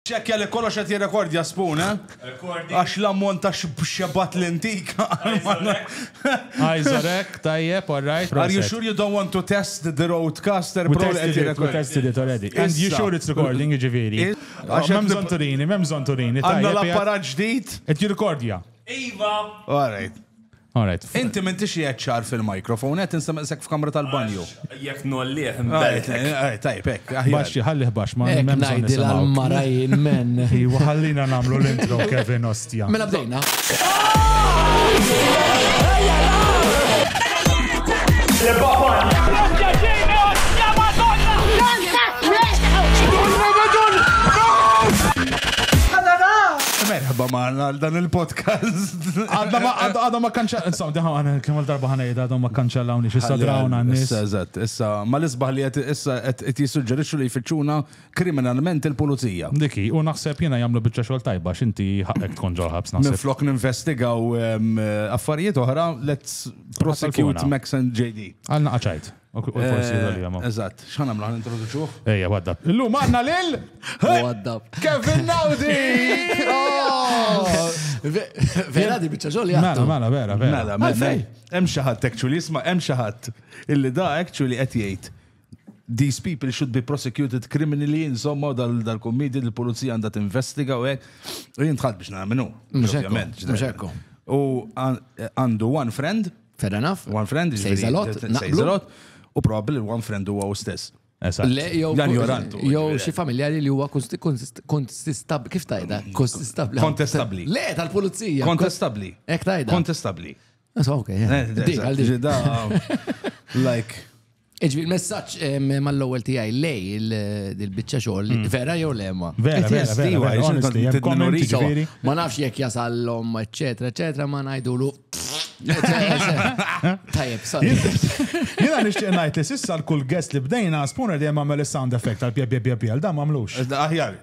Ċċekkja li kollox qed jirrekordja Spoon, eh? Għax l-ammont ta' xebgħat li ntik Eyes are hekk, tajjeb, all right, proset. Are you sure you don't want to test the Rodecaster Pro li qed jirrekordja? We tested it, we tested it already. Issa. And you sure it's recording, jiġifieri? Għax hemm bżonn turini, m'hemm bżonn turini, tajjeb. Għandna l-apparat ġdid. Qed jirrekordja. Iva! All right. Alright. Inti m'intix qiegħed ċar fil-microphone, qed insemmaqsek f'kamra tal-banju. Jekk nollih nbellet. Tajb, hekk. Baxxi, ħallih baxx ma hemm bżonn nisimgħu. Marajn men. Iwa ħallina nagħmlu l-intro Kevin Ostja. Mela bdejna. Merħba maħna għal dan il-podcast. Għadhom ma kanċa, insomma, diħa għana kemm darba ħanejda għadhom ma kanċellawni xissa drawna n-nis. Issa, eżatt, issa, ma l-isbaħ li għet issa għet jissuġġerixxu li jfittxuna kriminalment il-pulizija. Diki, u naħseb jena jamlu bieċa xol tajba, xinti ħakek tkun ġol ħabs naħseb. Minflok ninvestigaw affarijiet oħra, let's prosecute Max and JD. Għalna qaċajt. Eżatt, xħan għamlu għan introduċuħ? Ejja, waddab. Illum għanna lil? Waddab. Kevin Naudi! Vera di bieċa ġol jgħattu. Mela, mela, vera, vera. Mela, mela, mela. Hemm xi ħadd actually isma' hemm xi ħadd illi da actually qed jgħid these people should be prosecuted criminally, insomma, dal-kommedi dal l-polizija għandha tinvestiga u hekk. Jien tħadd biex nagħmlu. Mhux hekk. U għandu one friend Fair enough. One friend, Says a ġifieri, lot, that- naqblu. says a lot, u probabbli li one friend huwa u stess. Eżatt. Le, jew Dan jorantu, jew ġifieri. xi familjari li huwa konsti- konsti- konsistab kif tajda? Konsistab. Kontestabbli. Le, tal-pulizija. Kontestabbli. Ek tajda. Kontestabbli. So, okay, yeah. Eh, Dik, għal dik. da- Like, Iġbi l-messaġġ mal-ewwel tiegħi lej il-biċċa xogħol hmm. vera jew lema. Vera, vera, vera. Ma nafx jekk jasallhom, eċetera, eċetera, ma ngħidulu. Tajjeb, sorry. Jiena nixtieq ngħid li sissa l-kull guest li bdejna spooner dejjem għamel is-sound effect tal-pjeb pjeb pjeb pjeb, dan m'għamlux. Aħjar.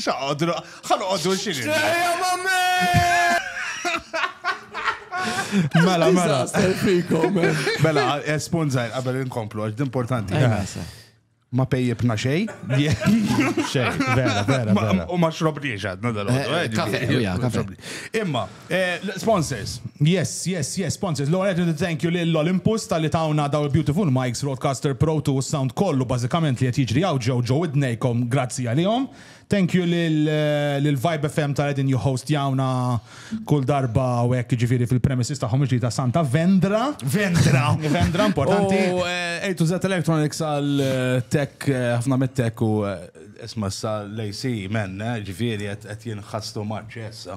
Xaqadru, ħanqoddu xini. Ġeja mammi! Mela, mela. Mela, esponzajn, għabel inkomplu, għax importanti. Ma pejjibna xej. Xej, vera, vera. U ma xrobniex għadna dal-għadu. Eh, eh, eh, kafe, kafe. Imma, Sponsors. Yes, yes, yes, sponsors. L-ewwel nett irrid thank you lil Olympus talli tawna dawn il-beautiful mics, Rodecaster Pro 2 u s-sound kollu bażikament li qed jiġri hawn ġew ġo widnejkom grazzi għalihom. Thank you lil Vibe FM tal-li qegħdin jihhostjawna kull darba hawn hekk jiġifieri fil-premises tagħhom il-ġdida Santa Vendra. Vendra! Vendra importanti. U A to Z Electronics għall-tech, ħafna mit-tech u isma' issa l-AC man, jiġifieri qed jinħastu much issa.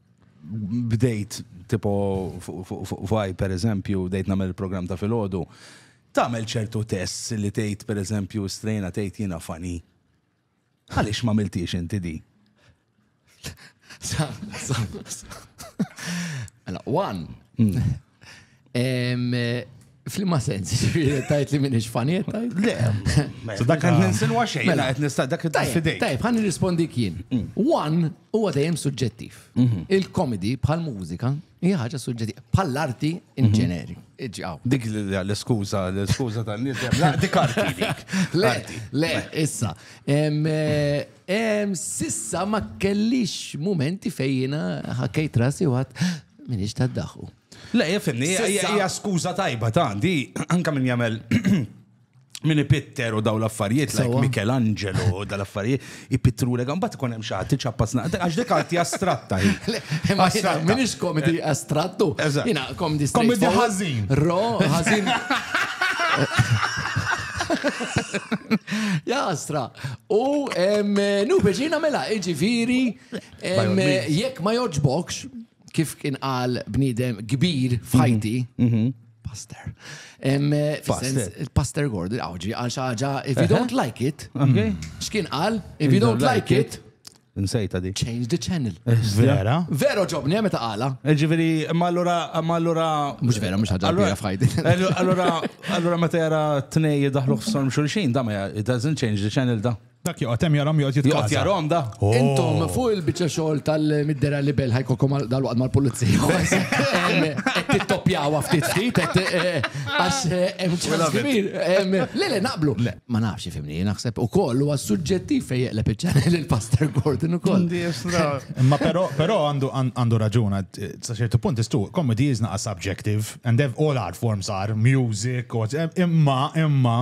bdejt tipo fuqaj per eżempju, bdejt namel il-program ta' fil-ħodu, tamel ċertu tests li tgħid per eżempju strejna tgħid jiena fani. Għaliex ma miltiex inti di? Mela, one, hmm. Flimma sens, tajt li minix faniet, tajt? Le, so dak għan ninsin waxej, mela għet nista dak id fidej. Tajb, għan nirrispondi kien. Mm. One, u għadajem suġġettiv. Mhm. Il-komedi bħal mużika hija ħaġa suġġettiva, bħal arti in mhm. ġeneri. Dik l-skuza, l-skuza tal-nies, dik arti dik. Le, le, issa. Eh, sissa ma kellix momenti fejjina ħakkejt rasi u għat, Minix ta' daħu. Le, jifimni, hija skuża tajba ta' di, anka min jagħmel min ipitter u daw l-affarijiet, like Michelangelo u daw l-affarijiet, ipittru l bat ikun hemm xaħat tiċappas naqt, għax dik arti astratta. Min ix komedi astrattu? Jina, komedi Komedi ħażin. Ro, ħażin. Jastra. U nu biex jina mela, iġifiri. Jekk ma joġbokx, kif kien qal bniedem kbir f'ħajti, mhm, mhm. Pastor. Pastor Gordon, għawġi, għal xaġa, if you don't like it, mhm. xkien għal, if you don't like it, Nsejta di. Change the channel. Eh, vera? Vero ġobni, għameta għala. Eh, ġiviri, ma allura, ma allura. Mux vera, mux ħadra għabira fħajdi. Eh, allura, allura ma tera t-nej daħlu xorm xulxin, da ma, it doesn't change the channel da. Dak joqgħod hemm jarhom joqgħod jitkaża. Joqgħod jarhom da. Intom oh. fuq il-biċċa xogħol tal-middera li bel ħajkolkom dal-waqt mal-pulizija. Qed tittoppjaw ftit ftit eh, għax eh, hemm ċans kbir. Le le naqblu. Ma nafx ifimni, naħseb ukoll huwa suġġettiv fejn jeqleb iċ-ċanel il-Pastor Gordon ukoll. Ma però però għandu għandu raġuna eh, sa ċertu punt istu comedy is not a subjective and all art forms are music imma imma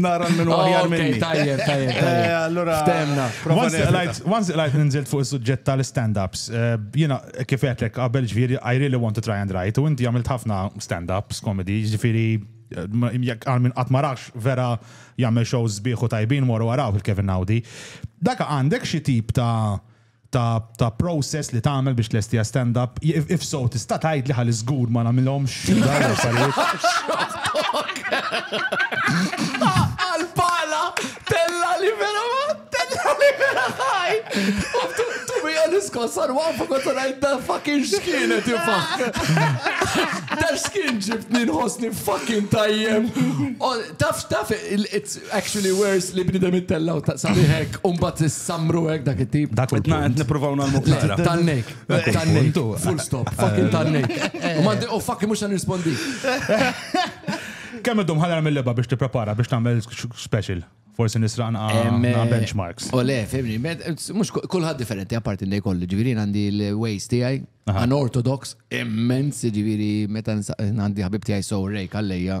nara minn għarjar oh, minni. Tajjeb, tajjeb. Eh, allora, ftemna. Once it light ninżilt fuq il-sujġett tal-stand-ups, eh, jina kif għetlek qabel ġviri, I really want to try and write, u inti għamilt ħafna stand-ups, komedi, ġviri, eh, jek għal minn għatmarax vera jgħamil shows biħu tajbin moru għaraw il-Kevin Audi. Daka għandek xie tip ta' ta' ta' process li tagħmel biex tlestiha stand up. If, if so, tista' tgħidli ħalli żgur ma nagħmilhomx dawn l-affarijiet. Għal-pala, tella li vera ma, tella li vera ħaj. Tu mi għan iskossar wafu kontu rajt da fucking xkienet jifax. Da xkien ġibtni nħosni fucking tajjem. Taf, taf, it's Actually worse li bniedem ittella' u sabiħ hekk u mbagħad issammru hekk dak it-tip. Dak il-punt. Qed nippruvaw nagħmlu klara. Tannejk. Tannejk. Full stop. Fucking tannejk. U mandi u fucking mhux se nirrispondi. Kemm iddum ħadar mill-leba biex tipprepara biex tagħmel special? Forsi nisraq naqa' benchmarks. U le, fimni, mhux kulħadd differenti apparti li jkollu, ġifieri għandi l-ways tiegħi, għan ortodox, immens, ġifieri meta għandi ħabib tiegħi so rejk għalleja.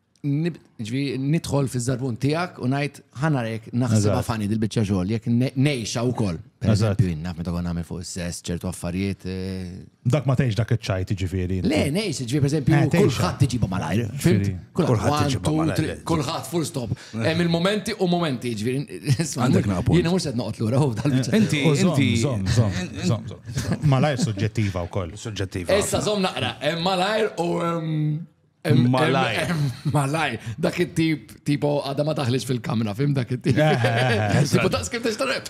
ġvi nidħol fi zarbun tijak u najt ħanarek naħseb għafani dil-bicċa xogħol jek nejxa u koll. Per eżempju, naf meta għon għamil fuq s-sess ċertu affarijiet. Eh, dak ma tgħix dak iċ-ċajt ġifieri. Le, nejx, ġifieri per eżempju, eh, kulħadd tiġiba malajr. Kulħadd tiġiba malajr. Kulħadd full stop. Eh. Hemm il-momenti u momenti ġifieri. Għandek napu. Jiena mhux qed noqgħod lura hu dal-bicċa. Inti, inti. Malajr suġġettiva wkoll. Suġġettiva. Issa żomm naqra, malajr u Malaj. Malaj. Dak it-tip, tipo, għada ma taħlix fil-kamra, fim dak it-tip. Eh, eh, eh, tipo, daqs kif t-ixtareb.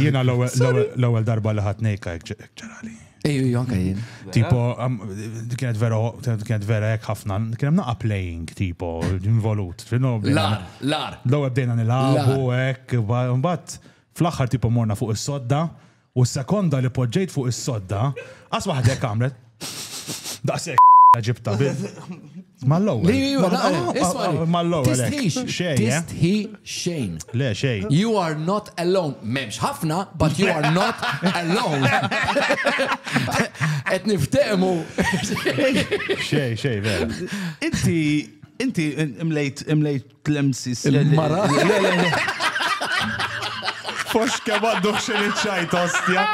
Jena l-ewel darba li ħat nejka ġerali. Ej, jonka jien. Tipo, kienet vera, kienet vera jek ħafna, kienem naqa playing, tipo, involut. Lar, lar. L-ewel bdejna nil-għabu, ek, bat, fl-axħar tipo morna fuq is-sodda. U s-sekonda li poġġejt fuq is-sodda, qas waħda hekk għamlet. Daqshekk ġibta bil. Mal-ewwel. Li ju, Mal- naqra, ah, isma' li. ah, mal-ewwel hekk. Tistħix, Xejn, eh? tistħi xejn. Le, xejn. You are not alone. Memx ħafna, but you are not alone. Et niftemu. Xejn, xejn, vera. Inti, inti imlejt, imlejt Tlemsis. Il-mara. Fox kemm għandux xi ċajt ostja.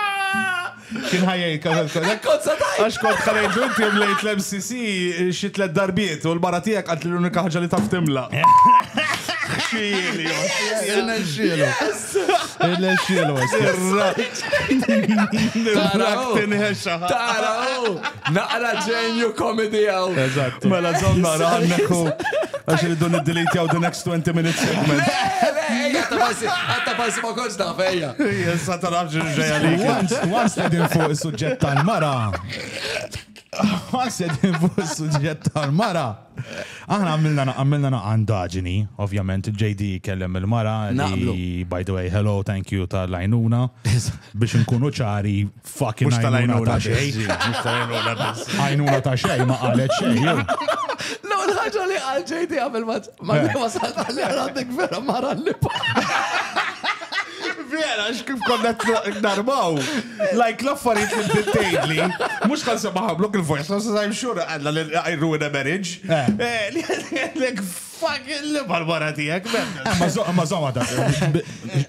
Kien ħajjej kazal kazal. Konza tajt. Għax kont ħalejt inti mlejt l-MCC xi tlet darbiet u l-mara tiegħek għad l-unika ħaġa li taf timla. Xieli. Xieli. Irnexxielu. Nirrak tinħexa. Tara, naqra ġenju komedi għaw. Eżatt. Mela zom naqra għanneku. Għax li dun id-delete jaw the next 20 minutes segment. Għatta passi ma konċ ta' fejja. Jessa ta' raġi ġeja li. Once li din fuq il-sujġet tal-mara. Once li din fuq il-sujġet tal-mara. Aħna għamilna għamilna naqa' ndaġini, ovvjament il-JD kellem il-mara Naqblu. li by the way hello thank you tal-għajnuna biex nkunu ċari fucking Mhux għajnuna tal-għajnuna ta' biss, xejn. ġi, mhux tal-għajnuna biss. Għajnuna ta' xejn ma qalet xejn. jew. No, l-ħagġa li għal ġejdi għamil ma ma Eh. wasalt għalli għandek vera mara li Vera, x'kif konna narmaw. Like l-affarijiet li bdiet tgħidli, mhux kan sema ħamlok il-voice, ma sa xhur għandna li I ruin a marriage. Like fuck li mal-mara tiegħek. Ma żomma da.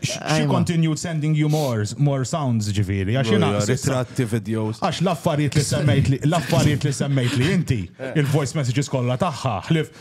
She continued sending you more, more sounds ġifieri. Għax jiena ritratti videos. Għax l-affarijiet li semmejt li l-affarijiet li semmejt li inti, il-voice messages kollha tagħha, ħlif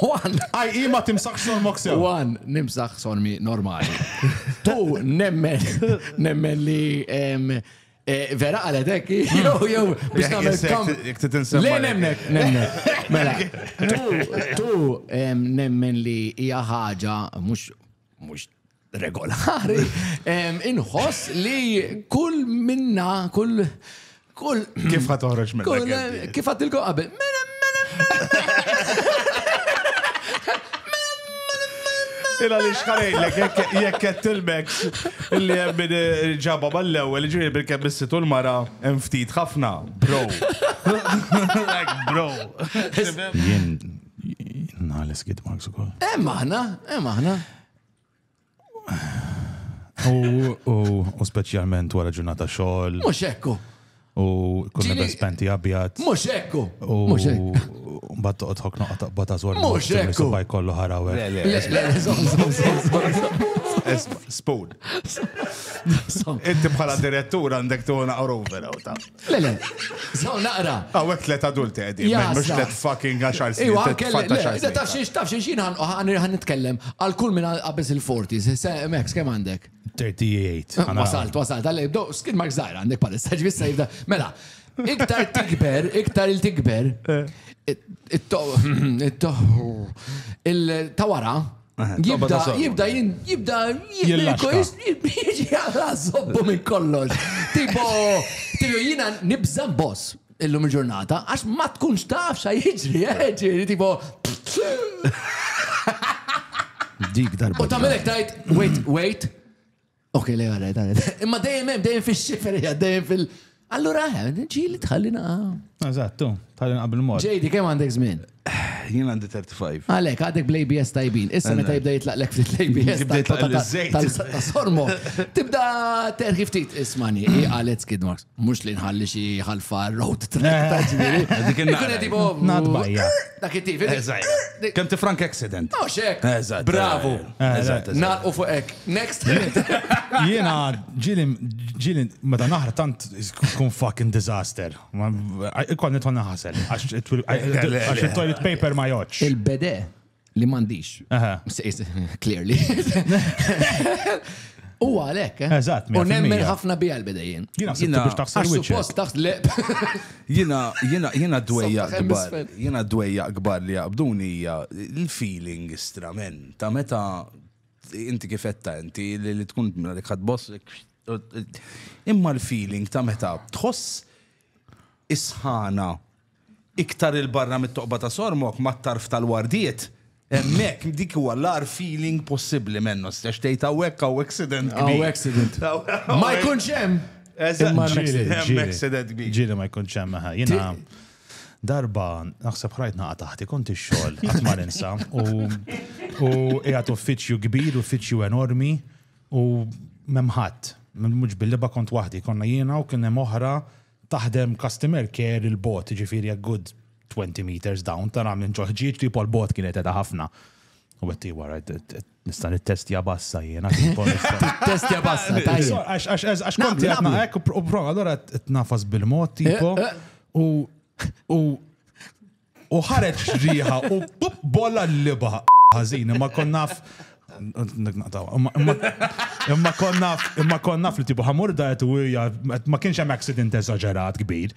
One. Aj, i ma timsax sormok sew. One, nimsax sormi normali. Two, nemmen, nemmen li em, eh, vera għalet ekki, jew jew biex namel kam. Jek titinsemma. Le nemmek, nemmek. Mela, tu, tu em, nemmen li hija ħaġa mhux mhux regolari, inħoss li kull minna, kull kull. Kif ħat toħroġ minna? Kif ħat tilkom qabel? Mela, mela, mela. Ila li xħarajlek, jekk qed tilmek illi hemm min eh, ġabha mal-ewwel, ġifieri bil-kemm issitu l-mara hemm ftit ħafna, bro. Like bro. Nħares kid marks u koll. Em aħna, em aħna. U specialment wara ġurnata xogħol. Mhux ekku. U kunna bes penti abjad. Mhux ekku. Mhux ekku. Mbagħad toqgħod ħok noqgħod taqbad ta' żwar. Mhux ekku. Subaj kollu ħarawe. Spoon. Inti bħala direttur għandek tuħna għaru vera u ta' Le, le. Zaw naqra. Għawek tlet adulti għedin, mux tlet fucking għaxar snin. Iwa, għaxar Taf xiex, taf xiex, jina għan nitkellem għal kull minna għabez il-40s, Max, kem għandek? 38. Wasalt, wasalt, għalli, do, skin mark zaħra għandek palissa, ġvissa jibda. Mela, iktar tikber, iktar il-tikber, eh. il-tawara, Jibda, jibda, jibda, jibda, jibda, zobbu minn kollox. Tipo, tipo, jina nibza boss illum il-ġurnata, għax ma tkunx taf xa jġri, eh, ġri, tipo. Dik darba. U tamelek tajt, wait, wait, Ok, le għara, dan. Imma dejjem hemm, dejjem fix-xiferija, dejjem fil- Allura, eh, ġili tħalli naqa. Eżattu, tal qabel mod. Ġejdi, kemm għandek żmien? Jien għandi 35. Għalek, għadek bl-ABS tajbin. Issa Għandek. meta jibda jitlaq lek fil-ABS. Jibda jitlaq l-żejt. Tal-sormo. Tibda terħi ftit ismani, għalet skid marks. Mux li nħalli xi ħalfa road track ta' ġviri. Dik il-naqra. tipo. Nadbajja. Dak it-tif. Kem ti frank accident. Oh, xek. Bravo. Naqu fuq ek. Next. Jena ġili ġili meta naħra tant kun fucking disaster. Ikon nitħon naħasel. Għax il-toilet paper ma joċ. Il-bede. li m'għandix. Clearly. U għalek, eh? Eżatt, U nemmen ħafna bi għalbi dejjem. Jina sinna biex taħsel wiċċ. Post taħt le. Jina, jina, jina dwejja gbar. Jina dwejja gbar li għabduni hija il-feeling istramen. Ta' meta inti kifetta inti li tkun li boss. Imma l-feeling ta' meta tħoss isħana Iktar 'il barra mit-toqba ta' Sormok, mat-tarf tal-wardiet, hemmhekk, dik huwa l-agħar feeling possibbli, Menno, x'se tgħid hawnhekk hawn accident kbir. Hawn accident. Ma jkunx hemm! Imma hemm accident kbir. Ġieli ma jkunx hemm, eħe. Jiena darba naħseb ħrajt naqa' taħti, kont ix-xogħol, qatt ma ninsa, u u qiegħed uffiċċju kbir, uffiċċju enormi, u m'hemm ħadd. Mhux bil-liba kont waħdi, konna jiena u kien hemm oħra taħdem customer care il-bogħod, jiġifieri a good 20 meters down, tara minn ġo ħġieġ li pol bogħod kienet qiegħda ħafna. U għetti wara, nista' nittestja bassa jiena. Testja bassa, tajjeb. Għax konti għatna hekk u prova, allora t-nafas bil-mod, tipo, u U ħareġ riħa u pup bolla l-liba ħażin, imma konnaf. Imma konnaf, imma konnaf li tibu ħamur dajet u hija ma kienx hemm accident eżaġerat kbir.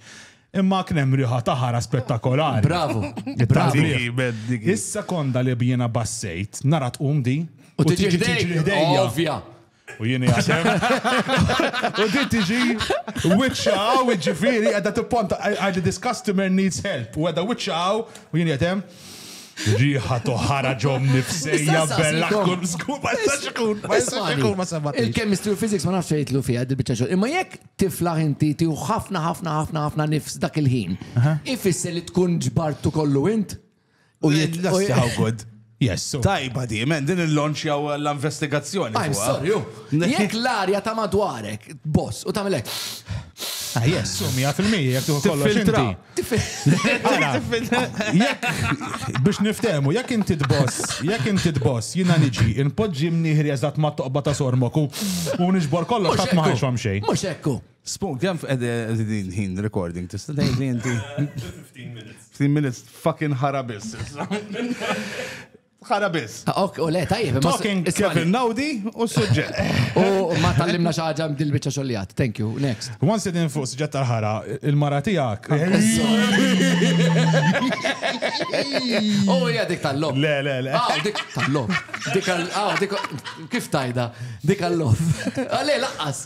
Imma kien hemm riħa ta' ħara spettakolari. Bravo. Bravo. Is-sekonda li bjiena bassejt, nara tqum di. U tiġi ħdejja. Ovvja. U jien jasem. U di tiġi witxa u ġifiri għadda t-ponta għadda this customer needs help. U għadda witxa u jien jasem. Riħa toħara ġom nifsejja bella kun zgur ma jistax ikun. Ma jistax ikun ma sabbat. Il-chemistry u physics ma nafx jitlu fija dil-bicċa xogħol. Imma jekk tiflaħ inti tiħu ħafna ħafna ħafna ħafna nifs dak il-ħin. Ifisser li tkun ġbartu kollu int? U jgħid l-assi how good. Yes. Tajba di, men, din il-launch jaw l-investigazzjoni. I'm sorry, ju. Jek l-arja ta' madwarek, boss, u ta' melek. Ah, yes, u mija fil-mija, jek tu kollu xinti. Biex niftemu, jek inti d-boss, jek inti d-boss, jina niġi, inpoġġi mniħri eżat ma' toqba ta' sormoku, u nġbor kollu xat maħħaxom xej. Mux ekku. Spoon, kemm qegħdin ħin recording tista' tgħidli inti? 15 minutes. 15 minutes fucking ħara biss. Ħara biss. Ah, ok, u le, tajjeb. Talking Kevin Naudi u suġġett. U ma tallimna xi ħaġa mdil biċċa xogħlijat. Thank you. Next. Once din fuq suġġett tal-ħara, il-mara tiegħek. U hija dik tal-lom. Le, le, le. Ah, dik tal-lom. Dik għal. Ah, dik. Kif tajda? Dik għal-lom. Ah, le, laqqas.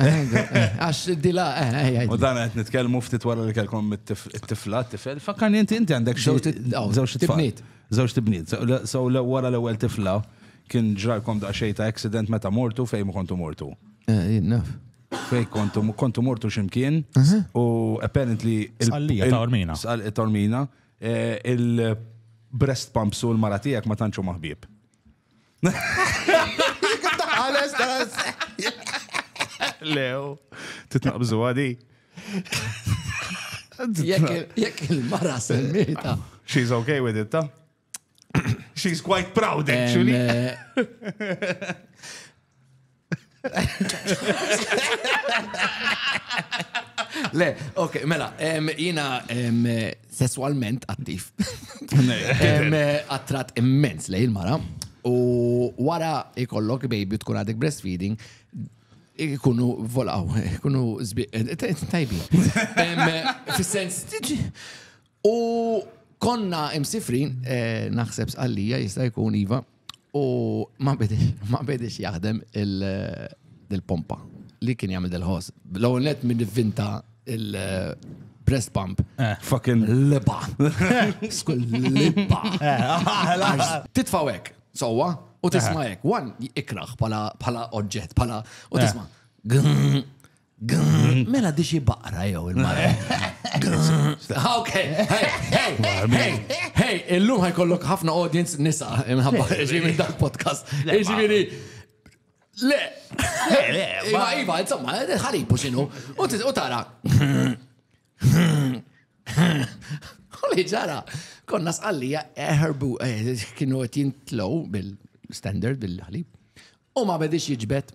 Għax dila, U dan għet nitkelmu ftit wara li kelkom it-tifla, t-tifel, fakkan inti inti għandek żewġ tibniet. Żewġ tibniet. So wara l-ewwel tifla kien ġralkom da xejn ta' accident meta mortu fejn kontu mortu. Eh, naf. Fej kontu, kontu mortu ximkien u apparently. Sqallija ta' ormina. Sqallija ta' ormina. Eh, il-breast pumps u l-maratijak ma tanċu maħbib. Lew, titnaqbżu għadi. Jekk il-mara semmita. She's okay with it, ta? She's quite proud, actually. Eh, Le, ok, mela, jina sessualment attiv. Attrat immens lej il-mara. U wara ikollok baby tkun għadek breastfeeding, ikunu volaw, ikunu zbi, tajbi. Fis-sens, u konna imsifrin, naħseb sqallija jista' jkun iva, U ma bidix jaħdem il-pompa li kien jagħmel dil-ħoss. L-ewwel net minn vinta il-breast pump. Eh. Fucking liba. Skull liba. Eh. Titfaw hekk, sewwa, u tisma' eh. hekk. Wan ikraħ bħala oġġett, bħala u tisma'. Mela dixi baqra jew il-mara. Ok, hey, illum ħajkollok ħafna audience nisa imħabba ġimmi dak podcast. Ġimmi Le, le, le, ma iva, insomma, ħalibu xinu, u tara. Għalli ġara, konna sqallija eħerbu, eh, eh, kienu għet jintlow bil-standard, bil-ħalib, u ma bedix jġbet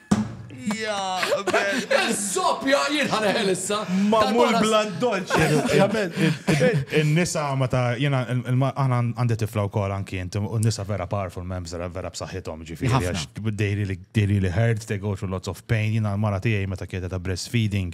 Zoppja, jien ħaneħel issa. Mamul blan dolċi. Il-nisa ma ta' jena, għana għandi tifla u kol anki jent, u nisa vera powerful membs, vera b'saħħithom ġifiri, għax dejri li hurt, they go through lots of pain, jena l-mara tijaj meta kieta ta' breastfeeding,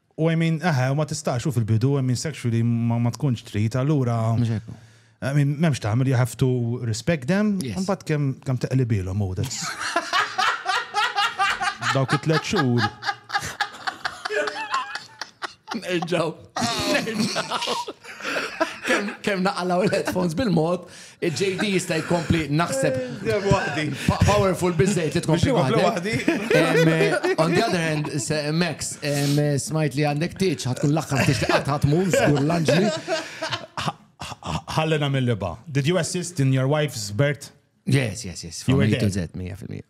U I mean, eħe, u ma tistax, u fil-bidu, I mean, sexually ma tkunx trid, allura. Mhux hekk. I mean, m'hemmx tagħmel, you have to respect them, imbagħad kemm kemm teqlibilhom hu that's. Dawk it-tliet xhur. Nerġgħu. Nerġgħu. Kemm naqalgħu l-headphones bil-mod. Il-JD jista' jkompli naħseb. Dejjem waħdi. Powerful biżejjed li tkun xi waħda. On the other hand, Max, smajt li għandek tieġ, ħatkun l-aħħar tieġ li qatt ħatmur, żgur l-anġli. Ħallina mill-liba. Did you assist in your wife's birth? Yes, yes, yes. You were there. 100%.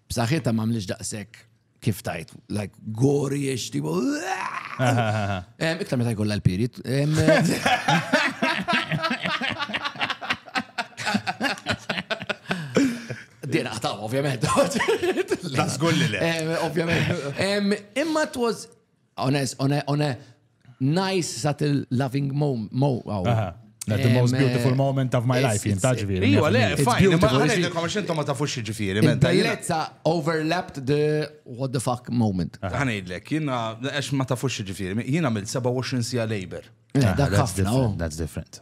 B'saħħitha m'għamlix daqshekk kif tajt, like gori ix tipo. Iktar meta jkollha l-pirit. Din aħtaw, ovvjament. Tasgulli le. Ovvjament. Imma it was On a, on a, on a nice, subtle, loving moment. Mo, oh. That the most beautiful eh, moment of my life, jien taġvir. Iwa, le, fajn, ma għalek il-komment ma tafux ġifiri. Bellezza overlapped the what the fuck moment. Għanidlek, jina, għax ma tafux ġifiri, jina mill 27 sija labor. Eh, that's different.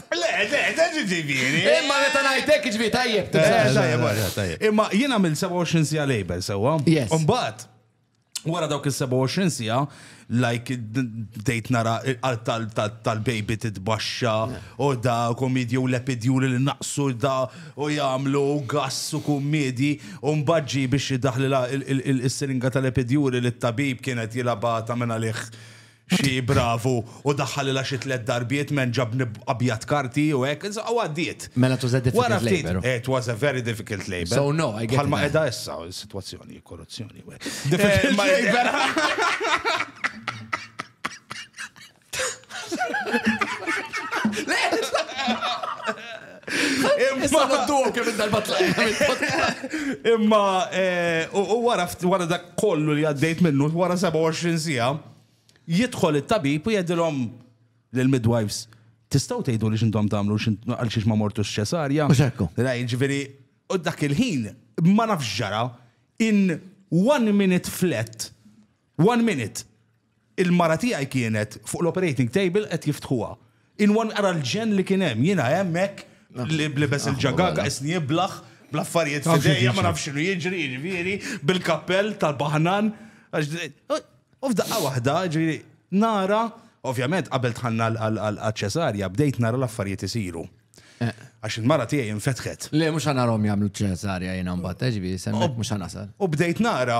Le, le, le, ġiġibiri. Imma meta ngħidlek ġiġibiri tajjeb. Imma jien għamil 27 sija label sewwa. Yes. Umbat, wara dawk il-27 sija, like dejt nara tal-baby titbaxxa u da komedji u lepidjuri li naqsu da u jagħmlu gass u kummedji u mbaġġi biex jidaħli il-siringa tal-lepidjuri li t-tabib kienet jilabata minn għalih xi bravu u daħħalilha xi tliet darbiet m'hemm ġabni abjad karti u hekk, insomma u għaddiet. Mela it was a difficult labour. Wara ftit, it was a very difficult labour. So no, I get it. Bħalma qiegħda issa s-sitwazzjoni, korruzzjoni u hekk. Difficult labour. Issa nodduhom kemm il-darba tlaqna mill-podcast. Imma eh, u u wara ftit- wara dak kollu li għaddejt minnu, wara 27 siegħa, jidħol it-tabib u jgħidilhom lill-midwives, tistgħu tgħidu li x'intom tagħmlu x'int- għal xiex ma mortux ċesarja. Mhux hekk hu. Ra, jiġifieri, u dak il-ħin ma nafx ġara in one minute flat One minute. Il-mara tiegħi kienet fuq l-operating table qed jiftħuha. In one ara l-ġenn li kien hemm. Jiena hemm hekk libes il-ġagaga, isni iblaħ, bl-affarijiet f'idejja ma nafx x'inhu jiġri, jiġifieri, bil-kappell tal-baħnan. U f'daqqa waħda, jiġifieri, nara, ovvjament qabel dħalna għaċ-ċesarja bdejt nara l-affarijiet isiru. Għax il-mara tiegħi infetħet. Le mhux ħa narahom jagħmlu ċesarja jiena mbagħad, jiġifieri semmek mhux ħa nasal. U bdejt nara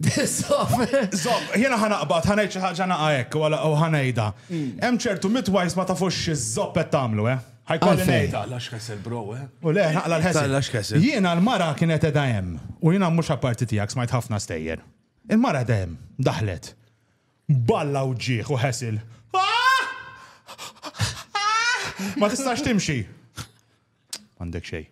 Zob, jena ħanaqbat, ħanajt xi ħaġa naqa hekk u ħanajda. Hmm. Hemm ċertu midwives ma tafux iż-zob qed tagħmlu, eh? Ħajkolli ngħidha. Lax kessel bro, eh? U le, naqla l-ħesel. Lax kessel. Jiena l-mara kienet edha hemm u jiena mhux apparti tiegħek smajt ħafna stejjer. Il-mara edha hemm, daħlet. Balla u ġieħ u ħesil. Ah! Ah! Ma tistax timxi. Għandek xej.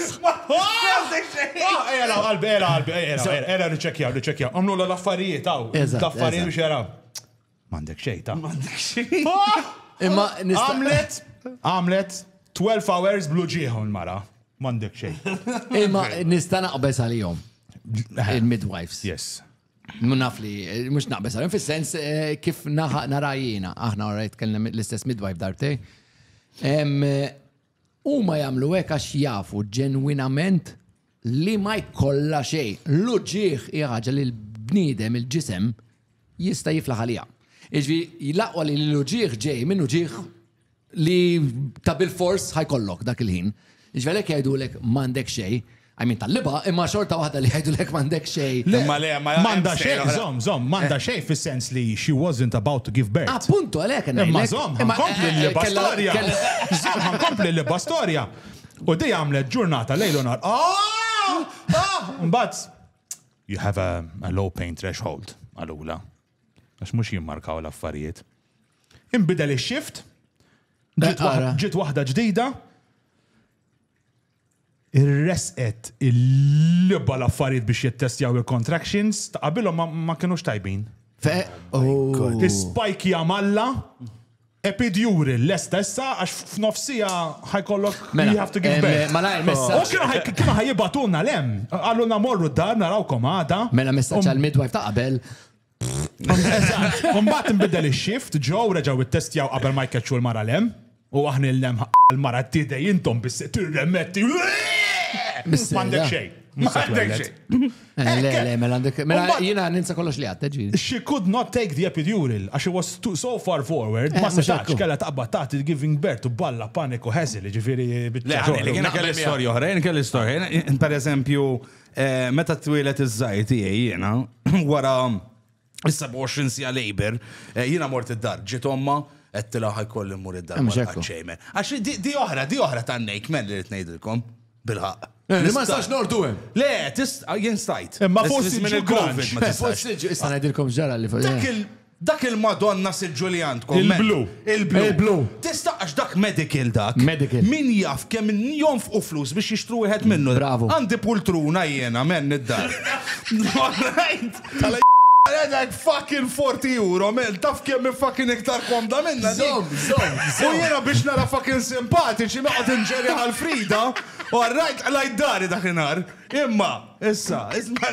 Għandek xej. Ah, ela, qalbi, ela, qalbi, ela, ela, niċċekja, niċċekja. Għamlu l-affarijiet, għaw. L-affarijiet biex jaraw. Għandek xej, ta' Għandek xej. Imma għamlet, għamlet 12 hours blu ġieħu l-mara. Għandek xej. Imma nista' naqbeż għalihom. Il-midwives. Yes. Naf li, mux naqbes għalim, fil-sens eh, kif narajina, aħna għarajt kellem l-istess midwife darbtej. U ma jamlu għek għax jafu ġenwinament li ma jkolla xej. L-uġieħ iħħaġa li l-bnidem, il-ġisem, jista jiflaħ għalija. Iġvi, jilaqwa li l-uġieħ ġej minn uġieħ li ta' bil-fors ħajkollok dak il-ħin. Ġvelek jgħidulek m'għandek xej, għajmin tal-liba, imma xorta waħda li jgħidulek m'għandek xej. Imma le, ma Manda xej, zom, zom, manda xej fis-sens li she wasn't about to give birth. Appuntu, għalek, għanna. Imma zom, kompli l-liba storja. Zom, kompli l-liba storja. U di għamlet ġurnata lejlu nar. Ah! Ah! Mbagħad you have a, a low pain threshold għalula. Għax mhux jimmarkaw l-affarijiet. Inbidel ix-shift, ġiet Ara. waħda- ġiet waħda ġdida, irresqet il-libba l-affarijiet biex jittestjaw il-contractions, ta' qabilhom ma- ma kienux tajbin. Fe. Oh. Is-spike jamalla, Epid Juri lesta issa għax f'nofs siegħa ħa jkollok Mela, you have to give em, birth. malajr messaġġ. U kienu ħaj- kienu ħaj jibgħatulna l-hemm. Qalulna morru d-dar narawkom għada. Mela messaġġ għal midwife ta' qabel. Eżatt. U mbagħad inbidel ix-shift, ġew reġgħu ittestjaw qabel ma jkeċċu l-mara l-hemm. U aħna il-hemm ħa l-mara tidej intom bis tirremetti. Mis-sejra. M'għandek xejn. Mhux se M'għandek twelled. xejn. Eh, le, le, mela għandek. Mela jina ninsa kollox li għatta ġi. She could not take the epidural, għax she was too, so far forward, eh, ma setax kella taqba taħt il-giving birth u balla paniku ħeżil, ġifiri. Le, għalli, kena kelli storja oħra, jena kelli storja. Per eżempju, eh, meta t-twilet iż-żajti jena, wara 27 sija labor, eh, jina mort id-dar, ġiet omma, għettila ħajkolli mur id-dar. Mux ekku. Għax di oħra, di oħra ta' nejk, men li rritnejdilkom, bilħaq. Eh, li ma nistax nordu hemm. Le, tist, ah, jien stajt. Eh, ma forsi minn il-Covid ma tistax. Issa ngħidilkom ġara li fuq. Dak il-Madonna Sil Ġulian tkom. Il-blu. Il-blu. Il-blu. Tista' għax dak medical dak. Medical. Min jaf kemm jom fuq flus biex jixtru wieħed minnu. Bravo. Għandi pultruna jiena men id-dar. Għedek fucking 40 euro, mel, taf kemm fucking iktar komda minna. Zom, zom, zom. U jena biex nara fucking simpatiċi noqgħod inġeri għal Frida, u għarrajt għalajt dari dak inar. Imma, issa, isma.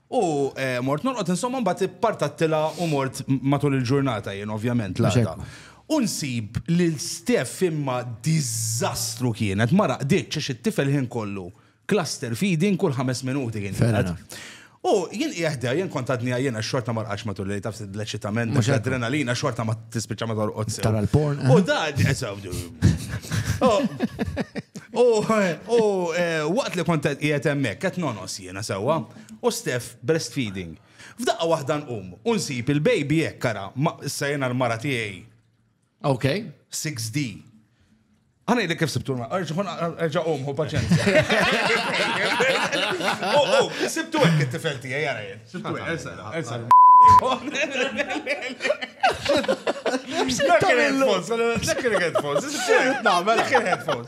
U mort norqod insomma mbagħad ippartattilha u mort matul il-ġurnata jien ovvjament l-għada. Unsib li l-Steph imma diżastru kienet, ma raqditx għax it-tifel ħin kollu. Cluster feeding kull ħames minuti kien jgħid. U jien jieħda, jien kont għadni għajjena xorta ma rqax matul li taf l-eċitament, mux adrenalina xorta ma tispiċa ma torqod. Tara l-porn. U da, U waqt li kont jgħet emmek, għet nonos Jiena sewwa? U Steph breastfeeding. F'daqqa waħda nqum u nsib il-baby hekk ara, issa jiena l-mara tiegħi. Ok. 6D. Għana jidek kif sibtu l-mara, erġa qum, hu paċenza. U oh, oh, sibtu hekk it-tifel tiegħi jara jien. Sibtu hekk, ersa, ersa. Dak il-headphones, dak il-headphones, dak il-headphones.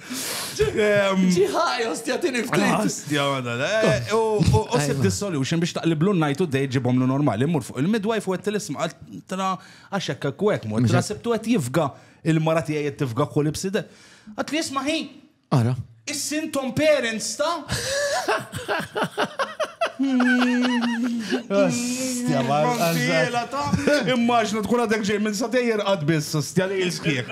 Ġiħaj, ostja, tini ftit. Ostja, għana. Eh, u sib di solution biex taqliblu najtu dej ġibom lu normali. Mur fuq il-midwife u għet l-isma għaltra għaxek kwek mur. Tra sibtu għet jifga il-marati għet tifga kull ibside. Għat li jisma hi. Ara. Is-sintom parents ta' Immaġna tkun għadek ġej minn satejjer għad biss, stja li il-skieħ.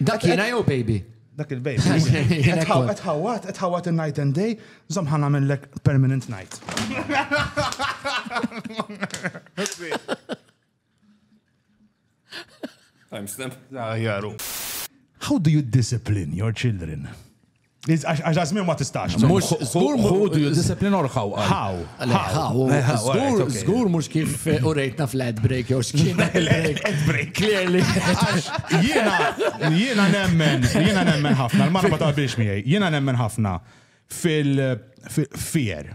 Dak jena jew baby? Dak il-baby. Etħawat, etħawat il-night and day, zomħana minnlek permanent night. Timestamp. Jaru. How do you discipline your children? Għax għazmin ma tistax. Mux, zgur mux. you discipline or how? How? How? Zgur, zgur mux kif eh, u rejtna flat break jew xkina. Ad break. Clearly. Għax jena, jena nemmen, jena nemmen ħafna, l-marba ta' biex miħaj, jena nemmen ħafna fil-fier.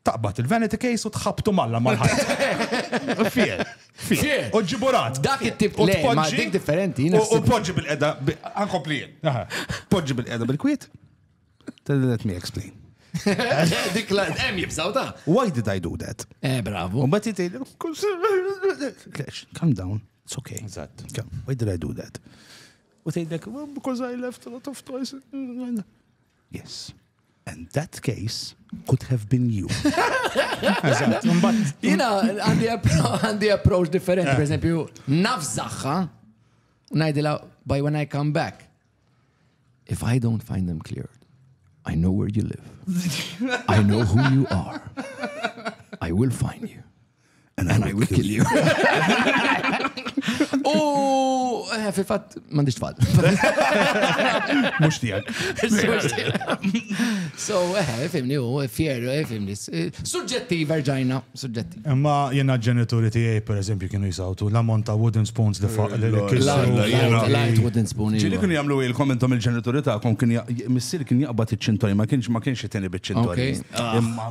Taqbad il-vanity case u tħabbtu malla mal-ħajt. Fier. Fier. U ġiburat. Dak it-tip li dik differenti. U poġġi bil-qeda, ankompli jien. Poġġi bil-qeda bil-kwiet. Let me explain. Dik la, hemm jibżaw ta'. Why did I do that? Eh, bravo. U bat jitej, calm down, it's okay. Eżatt. Why did I do that? U tgħidlek, because I left a lot of toys. Yes. And that case could have been you. Eżatt, mbagħad. Jiena għandi approach differenti, eh. pereżempju, nafżaħħa ngħidilha by when I come back. If I don't find them cleared, I know where you live. I know who you are. I will find you. And I will kill you. U eh, fil-fatt m'għandix tfal. Mhux tiegħek. So, eh, fimni u fjer, eh, fimni. Suġġettiv erġajna, suġġettiv. Imma jena ġenituri tiegħi per eżempju kienu jisawtu l-ammont ta' wooden spoons li faq li Light wooden spoon. Ġili kienu jagħmlu ilkom intom il-ġenituri tagħkom kien missier kien jaqbad iċ-ċintorja ma kienx ma kienx iteni biċ-ċintorja. Imma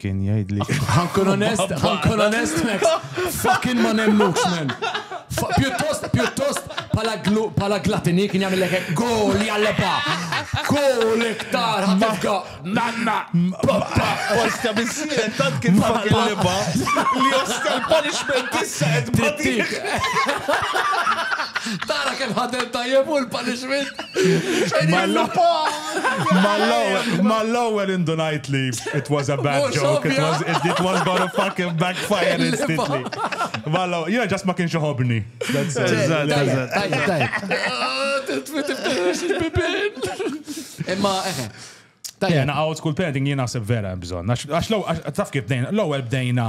Kien jgħid li. Ħankun onest, ħankun onest, Max. Fucking ma nemnux, man. Pjuttost, pjuttost, pala glatini kien jagħmel lek gol jalleba. Gol iktar ħafna. Nanna, pappa, osta bissiren tant kien fucking leba li osta l-punishment issa qed trittik. Tara kemm ħadem tajjeb u l-punishment. Ma l-lapa. Mal-ewwel indunajt li it was a bad joke, it was gonna fucking backfire instantly. Mal-ewwel, jiena ġast ma kienx iħobbni. Imma, eħe. Tajja, na out school parenting jiena se vera bżon. Għax l-ewwel, taf kif bdejna, l-ewwel bdejna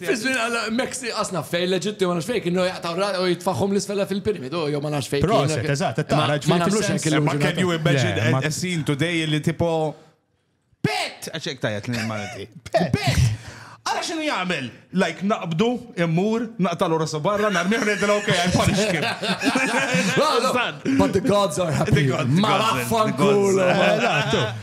Fiż-żmien għall-Meksi qasna fejn l-Eġitti ma nafx fejn kienu jaqtaw ra u jitfaħħhom l-isfel fil-piramidu jew ma nafx fejn. Proset, eżatt, qed tara ġifieri timlux hekk il-ġurnata. Imma can you imagine a scene today li tipo Pett! Għax hekk tajjeb ngħid Malti. Pett! Ara x'inhu jagħmel? Like naqbdu, immur, naqtalu rasu barra, narmih ngħidlu ok, I punish him. But the gods are happy. Ma vaffankulo.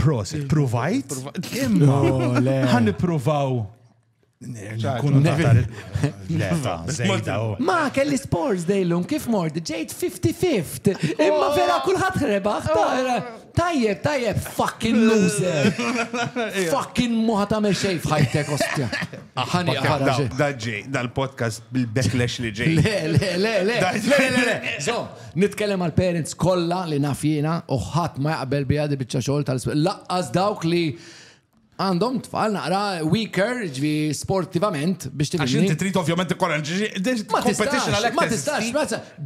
Prosit, provajt. Imma, għan niprovaw. Ma kelli sports dejlum kif mord, ġejt 55 Imma oh. vera kullħat rebaħ Tajjeb, tajjeb, fucking loser. Fucking muħa ta' meċej fħajtek, ostja. Ħani għara. Daġi, dal-podcast bil-backlash li ġej. Le, le, le, le. Le, le, le. Nitkellem għal parents kollha li naf jiena u ħadd ma jaqbel biha di biċċa xogħol tal laqqas dawk li għandhom tfal naqra weaker ġvi sportivament biex tifhem. Għax inti trid ovvjament ikkoranġi competition għalhekk. Ma tistax, ma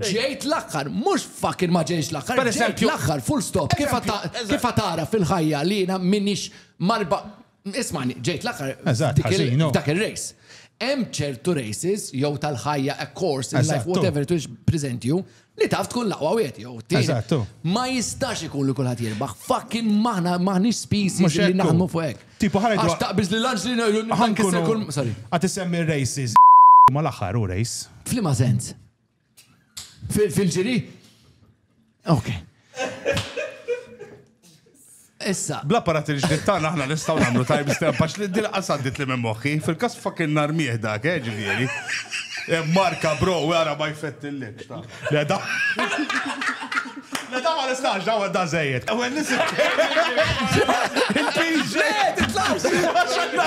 ġejt l-aħħar, mhux fucking ma ġejx l-aħħar. Per eżempju, l-aħħar full stop kif tara fil-ħajja li jiena minix marba Ismani, ġejt l-aħħar dak ir-race. Hemm ċertu races jew tal-ħajja a course in life whatever it is present you li taf tkun laqwa wieħed jew tieni. Ma jistax ikun li kulħadd jirbaħ. Fucking maħna maħniex species li naħdmu fuq hekk. Tipo ħarajt. Għax taqbiż li lanġ li ngħidu nħankisser kull. Sorry. Għad isemmi races ma l-aħħar u race. Flima sens? Fil-ġiri? Ok. Issa. Bla parat il-ġdid tagħna aħna nistgħu nagħmlu time stamp għax li din qasaddit li minn moħħi fil-każ fucking nar mieħ dak, eh, ġifieri. Eh, marka bro, wara ma jfettillik. Le da. Le da ma nistax daw da żejjed. Ewwel nisim. Il-piġ. Le, titlax. Għax għandna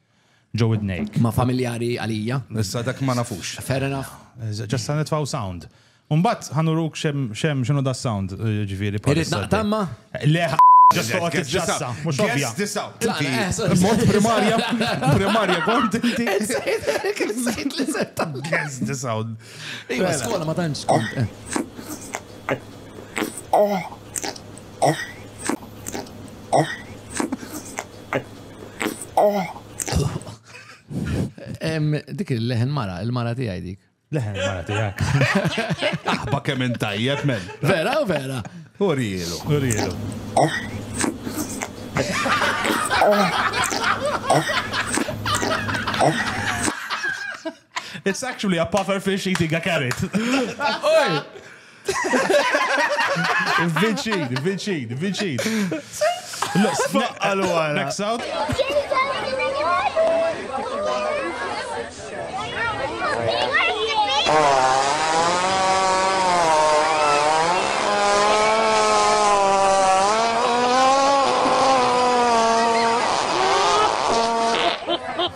ġo widnejk. Ma familjari għalija. Issa dak ma nafux. Fair enough. Ġas sa nitfgħu sound. U mbagħad ħa nuruk x'hemm x'inhu da sound, jiġifieri. Irrid naqtamma? Le Ġas toqgħod tiġġassa, mhux ovvja. Guess this out. Mod primarja, primarja kont inti. Guess this out. Iva, skola ma tantx kont. Oh. Oh. Oh. Dik il-leħen mara, il-mara tiegħi dik. Leħen mara tiegħek. Aħba kemm intajjeb men. Vera u vera. Urielu. Urielu. It's actually a puffer fish eating a carrot. Viċin, viċin, viċin. Għalu għala. Next out.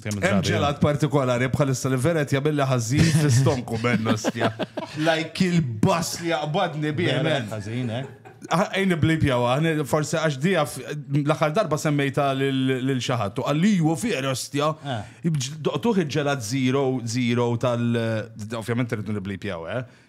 Hemm ġelat partikolari bħalissa li veret jagħmilli ħażin fl-istonku bennostja. Like il-bass li jaqbadni bih ħażin eh? Ejni blib jawa, forse għax dija l-axar darba semmejta l-xaħat, u għalli ju fier ostja, eh. doqtuħ ġelat 0-0 tal- ovvjament rridu niblib jawa, eh?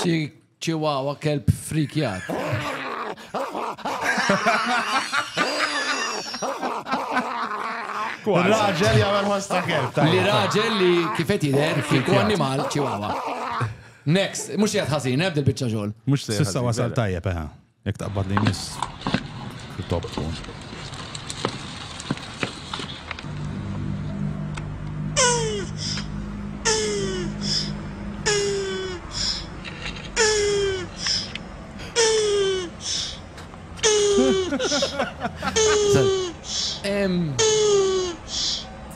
Xi ċiwawa kelb frikjat. Raġel jagħmel ħoss ta' kelb. Li raġel li kifet jidher kieku annimal ċiwawa. Next, mhux qiegħed ħażin, ebda biċċa xogħol. Mhux se. Sissa wasal tajjeb, eħe. Jekk taqbad li jmiss. Top tkun.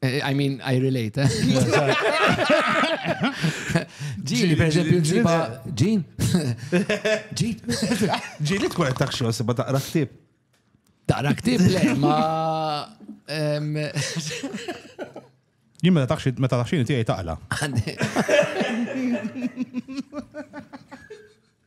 Eh, I mean, I relate. Eh? Ġili, per eżempju, ġiba. Ġin? Ġin? Ġili tkun qed taħxu għasibha taqra ktib. Taqra ktib le, ma. Jien meta taħxi meta taħxini tiegħi taqla.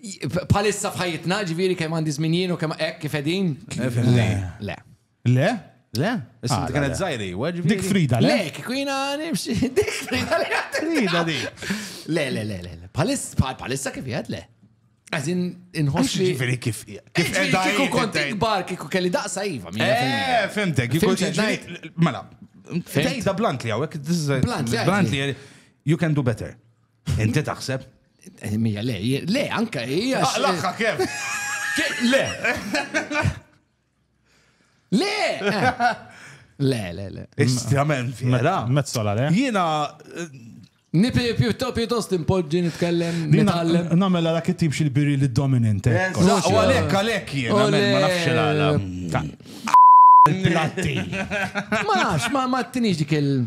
Bħalissa f'ħajjitna, ġifieri kemm għandi żmien jien u kemm hekk kif qegħdin? Le. Le. Le? Le? Issa ah, kienet żgħiri, Dik Frida, le? Le, kieku jiena nimxi. Dik Frida li Frida di. Le, le, le, le. Bħalissa kif jgħad le. Għazin inħossi. Ġifiri kif. Kif kiku kont ikbar, kiku kelli daqsa jiva. Eh, fimtek, kiku ġifiri. Mela, tejda bluntly għawek. Bluntly. Bluntly, you can do better. Inti taħseb? Eh, mija, le, le, anka hija. Ah, Laħħa kem? Le. Le. Eh. Le, le, le. Istrament fiera. Mezzola, le. Jina. Eh, Nipi pjutto pjuttost impoġġi nitkellem nitgħallem. Namela dak it-tip xil-biri li dominant. U għalek, għalek jien, ma nafx għala. Platti. Ma nafx, ma tinix dik il-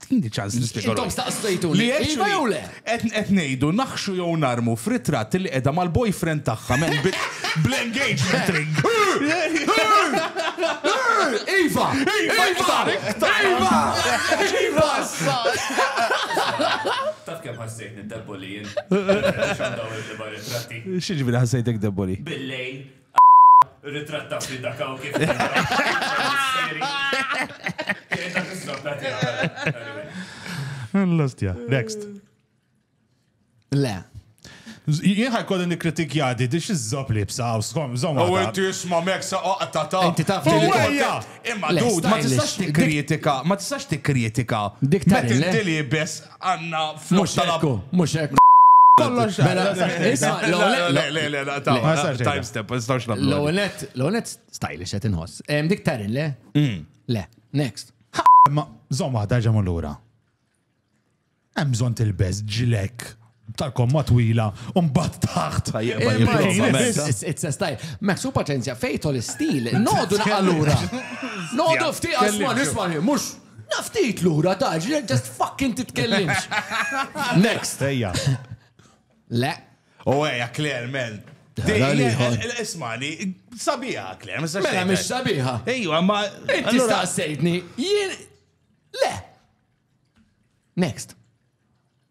Tini ċans li spiegħu. Intom staqsejtu li iva jew le? Qed ngħidu naħxu jew narmu f'ritratt li qiegħda mal-boyfriend tagħha men bl-engagement ring. Iva! Iva! Iva! Iva! Taf kemm ħassejt nid-deboli jien. X'għandha ritratti? X'ġifieri ħassejtek deboli? Billejl Ritratta fi dak hawn kif. L-ostja, next. Le. Jien ħajkolli nikkritikja di dix iżżob li bsaw, skom, zom. U inti isma' mek sa oqgħod ta' ta'. Inti taf Imma dud, ma tistax tikkritika, ma tistax tikkritika. Dik ta' li bes Għanna flus tal-ab. Mux ekku. Kollox. Mela, isma, l-time step, nistawx nabdu. L-onet, l-onet stylish għet inħoss. Dik tarin, le? Mm. Le, next. Ma, zom għada ġamu l-ura. Emżon til-bez ġilek tal-komma twila un bat taħt. It's a style. Maxu paċenzja, fejto l-stil, nodu naqalura. Nodu fti, asma, nisma, mux. Naf ftit lura ta' ġrien just fucking titkellimx. Next. Ejja. Le. U ejja, Claire, men. Ismani, sabiħa, Claire, ma Mela, mhix sabiħa. Ejja, ma. Inti staqsejtni, jien. Le. Next.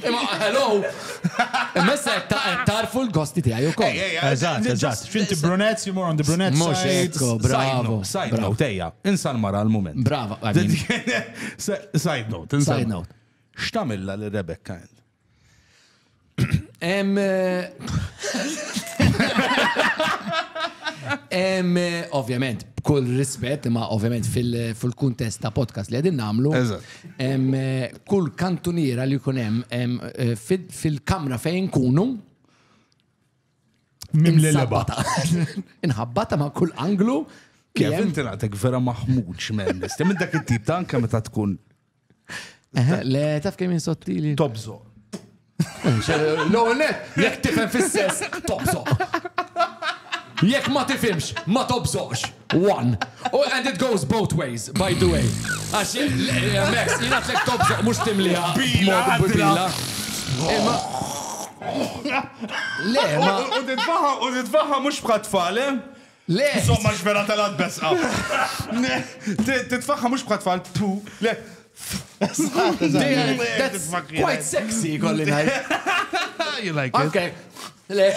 Imma hello! Imma issa qed tagħrfu l-gosti tiegħi wkoll. Eżatt, eżatt. X'inti brunettes, you more on the brunette side. Mhux hekk, bravo. Side note, ejja, insal mara l-mument. Brava, Side note, insal. Side note. X'tamilla li Rebecca Ann? Em. Eh, em, eh, ovvjament, b'kull rispett, ma ovvjament fil-kuntest ta' podcast li għedin namlu. kull kantuniera li jkun hemm fil-kamra fejn kunu Mimlelebata. Inħabbata ma' kull anglu. Kif inti naqtek vera maħmuġ minn nistem minn dak it-tip ta' anke meta tkun. Le, taf kemm sottili. Tobżo. L-ewwel net, jekk tifhem fis-sess, tobżoq. Jekk ma tifhimx, ma tobżoqx. One. Oh, and it goes both ways, by the way. Għax, eh, Max, jina tlek tobżoq mux timliha. Bila, bila. Imma. Le, ma. U titfaħa, u titfaħa mux bħat fale. Eh? Le! Insomma l-ġmera telgħet beżqa. Le! Titfagħha mhux bħal tfal tu, le! That's quite sexy, kolli ngħid. You like it? Okay. Le.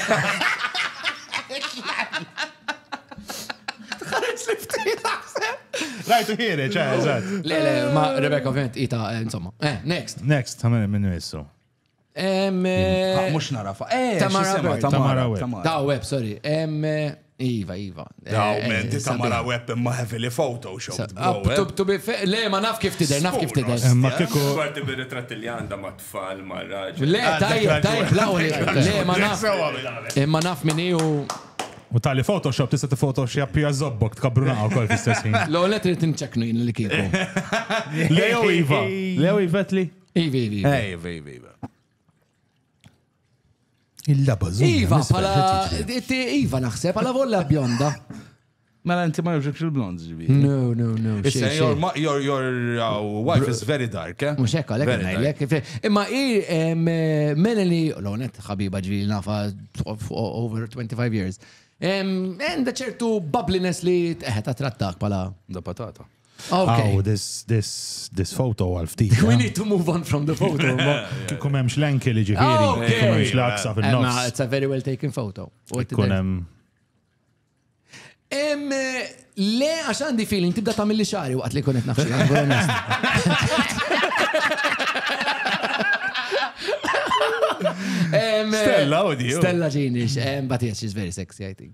Tħares li ftit Rajtu ħiri, ċe, eżat. Le, le, ma Rebecca ovvjament ita, eh, insomma. Eh, next. Next, tamel minnu jissu. Mux narafa. Eh, Tamara Webb. Tamara Webb. Daw Webb, sorry. Iva, Iva. Daw, eh, men, eh, Tamara Webb imma heavily Photoshop. Ah, eh. Le, ma naf kif tider, naf kif tider. Ma kiku. Għarti bir ritrat li għanda ma tfal, ma raġu. Le, ah, tajja, tajja, law li. Le, ma naf. Imma naf minni u. U tali Photoshop tista' t-Photoshop hija zobbok tkabruna wkoll fl-istess ħin. L-għolet li tinċeknu jien li kieku. Leo Iva. Leo Ivetli. Iva, iva, iva. Eh, iva, iva, iva. Il-laba zumba. Iva, pala. Iva, naħseb, pala volla bjonda. Mela inti ma jogħġobx il-blond ġibi. No, no, no. Issa your, your, your uh, wife is very dark, eh? Mux ekka, lek għajlek. Imma i Melanie, l-onet ħabiba ġibi nafa over 25 years. Għanda ċertu bubbliness li teħet trattak pala. Da patata. Okay. Oh, this, this, this photo għal ftit. We need to move on from the photo. Kum hemmx l-enki li ġifieri, oh, kum hemmx l-aksa fin-nofs. It's a very well taken photo. Kun hemm. Le, għax għandi feeling tibda ta' mill xari waqt li kunet nafxie. Stella, oddio. Stella Genish, but yes, she's very sexy, I think.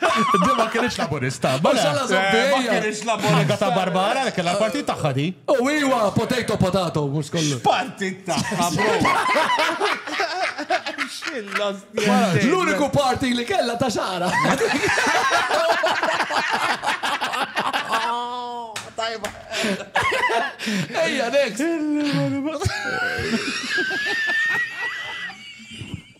Di ma kienx laburista. Ma xalla zombija. Ma kienx laburista. ta' Barbara li kellha l-partit tagħha di. U oh, iwa, potato potato, mhux kollu. Partit tagħha, bro. L-uniku parti li kellha ta' xara. Tajba. Ejja, next.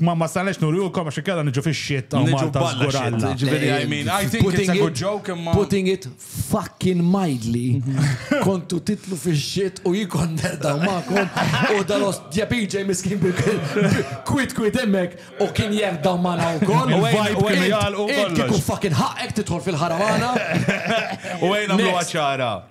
Ma ma sannex nurjukom għax inkella niġu fix-shit ta' Malta żgur Alla. Ġifieri I mean, I think it's a good joke imma. Putting it fucking mildly, kontu titlu fix-shit u jien kont nerdaw magħkom u dal-ostja PJ miskin kwit kwit hemmhekk u kien jerdaw magħna wkoll. U għajn u għajn jgħalqu kollox. Kieku fucking ħaqqek tidħol fil-ħaramana. U għajn għamlu għaċara.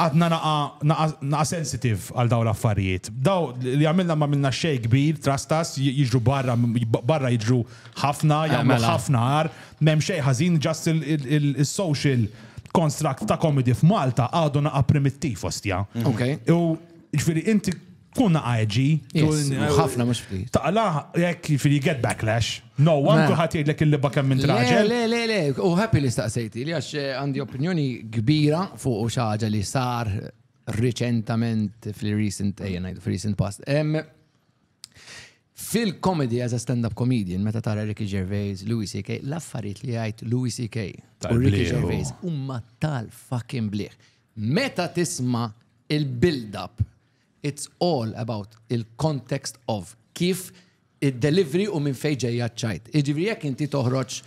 Għadna naqa' naqa' naqa' sensitive għal dawn l-affarijiet. Daw li għamilna m'għamilna xejn kbir, trastas, jiġru barra barra jiġru ħafna, jagħmlu ħafna agħar, m'hemm xejn ħażin just il-social construct ta' comedy f'Malta għadu naqa' primittiv ostja. U jiġifieri inti Tkun għagġi. Ħafna mux fli. Taqla, jek fili get backlash. No, għan kullħat jgħidlek il-libba kemm minn traġel. Le, le, le, u happy li staqsejti li għax eh, għandi opinjoni kbira fuq u xaġa li sar reċentament fil-recent, ejja eh, fil-recent past. Fil-comedy as a stand-up comedian, meta tara Ricky Gervais, Louis C.K., l-affarijiet li għajt Louis C.K. u Ricky Gervais umma tal-fucking bliħ. Meta tisma il-build-up It's all about il-context of kif id-delivery u minn fejn ġejja ċ-ċajt. Jiġifieri jekk inti toħroġ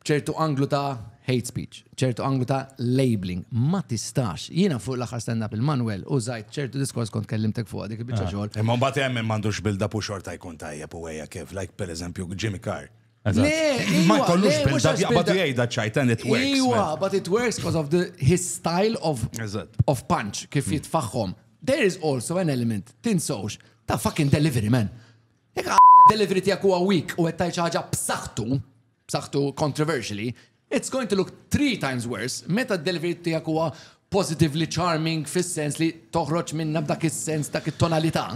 b'ċertu anglu ta' hate speech, ċertu anglu ta' labeling, ma tistax. Jiena fuq l-aħħar stand up il-Manuel u żajt ċertu diskors kont kellimtek fuq dik il-biċċa xogħol. Imma mbagħad hemm min m'għandux build-up u xorta jkun tajjeb u ejja kif, like pereżempju Jimmy Carr. Ma jkollux build up jaqbad jgħidha ċajt and it works. Iwa, but it works because of the, his style of, of punch, kif hmm. jitfaħħom. There is also an element, tinsawx, ta' fucking delivery, man. Jek delivery tijak huwa weak u għettaj ċaġa b'saħtu, b'saħtu controversially, It's going to look three times worse meta d-delivery tiegħek huwa positively charming fis-sens li toħroġ minna b'dak is-sens dak it-tonalità.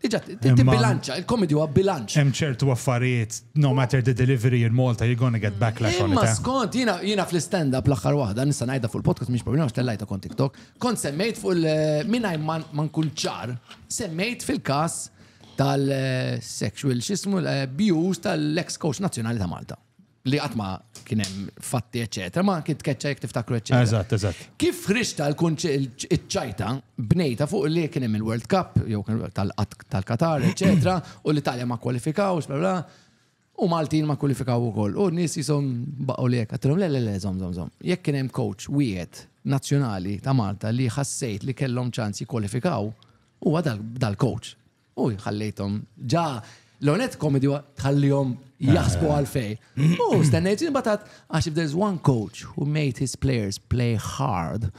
Iġa, bilanċa, il-komedi huwa bilanċ. Hemm ċertu affarijiet, no matter the delivery in Malta, you're gonna get backlash on it. Ma eh? skont, jina, jina fl-stand-up l-axar wahda, nista najda fuq il-podcast, miex problema, xtellajta kont TikTok, kont semmejt fuq il-minaj eh, man nkun ċar, semmejt fil-kas tal-sexual, eh, xismu, abuse tal-ex coach nazjonali ta' Malta. li qatt ma kien hemm fatti, eċetera, ma kien tkeċċa jekk tiftakru, eċetera. Eżatt, eżatt. Kif ħriġta l-ċajta bnejta fuq li kien hemm il-World Cup, jew tal-Qatar, eċetera, u l-Italja ma kwalifikawx, bla bla, u Maltin ma kwalifikaw ukoll. U n-nies jisom baqgħu li hekk, għatilhom le le le, żom żom żom. Jekk kien hemm coach wieħed nazzjonali ta' Malta li ħassejt li kellhom ċans jikkwalifikaw, huwa dal-coach. U jħallejtom ġa l-ewwel nett komedi huwa tħallihom jaħsbu Ah. għal fej. U stennejt imbagħad għax if there's one coach who made his players play hard.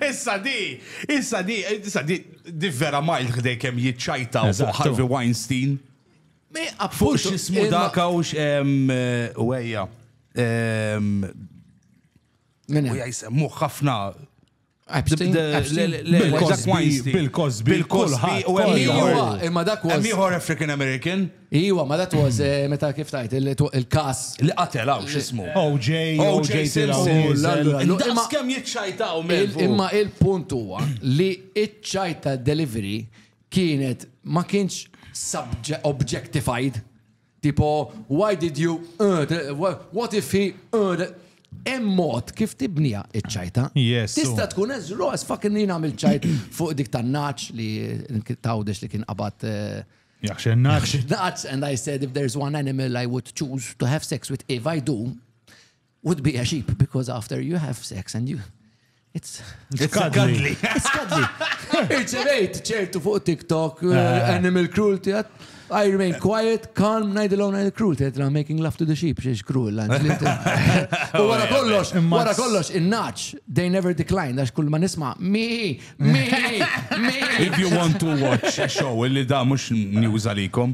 Issa di, issa di, issa di, di vera majl ħdej kem jitċajta u fuq Eżattu. Harvey Weinstein. Me Fuq appuntu, xismu imma- daka u xem u għeja. Min U hemm? jismu ħafna Epstein, The- Epstein, le- le- Bill Cosby, Weinstein. Bill Cosby, Bill Cosby kulħadd, u hemm kulħadd. ieħor. Iwa, imma dak Hemm was. ieħor African American Iwa, ma dat was eh, meta kif tajt il- il-kas. li qatel hawn x'ismu. OJ, OJ OJ tilaw Simpson. diesel. La, la, la. Daqs Imma- kemm jiċċajtaw Il- minn Imma il-punt huwa li iċ-ċajta delivery kienet ma kienx subje- objectified. Tipo, why did you, what if he, hemm mod kif tibnija iċ-ċajta. Yes. Tista' tkun as raw as fucking li nagħmel ċajt fuq dik tan-naċ li tawdex li kien qabad. Eh, Jaxen naċ. Naċ, and I said if there's one animal I would choose to have sex with if I do, would be a sheep because after you have sex and you It's cuddly. It's cuddly. Irċevejt ċertu fuq TikTok, uh, eh. animal cruelty, I remain quiet, calm, najdilom najd cruel, tedra making love to the sheep, xiex cruel, l-anġli. U wara kollox, wara kollox, il-naċ, they never decline, għax kull ma nisma, mi, mi, mi. If you want to watch a show, illi da mux news għalikom,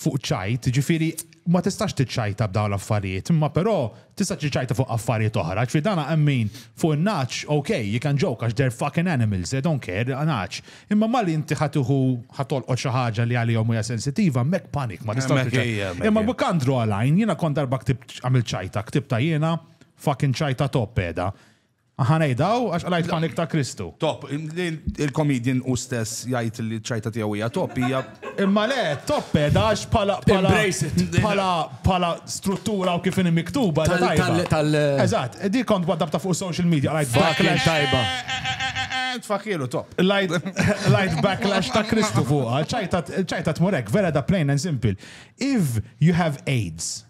fuq ċajt, ġifieri ma tistax tiċċajta b'dawn l-affarijiet, imma però tista' tiċċajta fuq affarijiet oħra, ġifieri dan hemm min fuq in-nagħaġ ok, you can joke għax they're fucking animals, they don't care, nagħaġ. Imma malli inti ħa tieħu ħa tolqot xi ħaġa li għalihom hija sensitiva, hemmhekk panic, ma tistax Hemmhekk tiċċajta. hija, hemmhekk Imma hija. we can't draw a line, jiena kont darba ktibt għamilt ċajta, ktibta jiena fucking ċajta top qiegħda. Aħa ngħidha hawn għax qlajt panik ta' Kristu. Top, il-comedian hu stess jgħid li ċ-ċajta tiegħu hija top hija. Imma le, top qiegħda għax bħala bħala bħala struttura u kif inhi miktuba hija tajba. Eżatt, dik kont waddabta fuq social media qlajt backlash tajba. Tfakilu top. Lajt backlash ta' Kristu fuqha, ċajta tmur hekk, vera da plain and simple. If you have AIDS,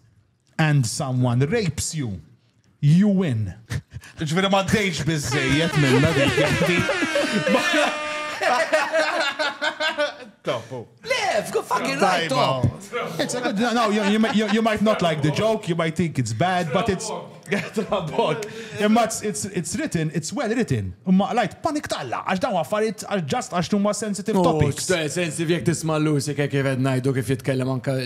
And someone rapes you, you win. Ġviri ma dejx bizzejiet minna dik. Topu. Live, go fucking right top. It's a good, no, you, you, you, you might not like the joke, you might think it's bad, but it's... Trabok. Imma it's, it's, it's written, it's well written. Imma lajt panik talla, għax dawn għaffariet, għax just għax numma sensitive oh, topics. Sensitive jek tisma l-lusi kif għed najdu kif jitkellem anka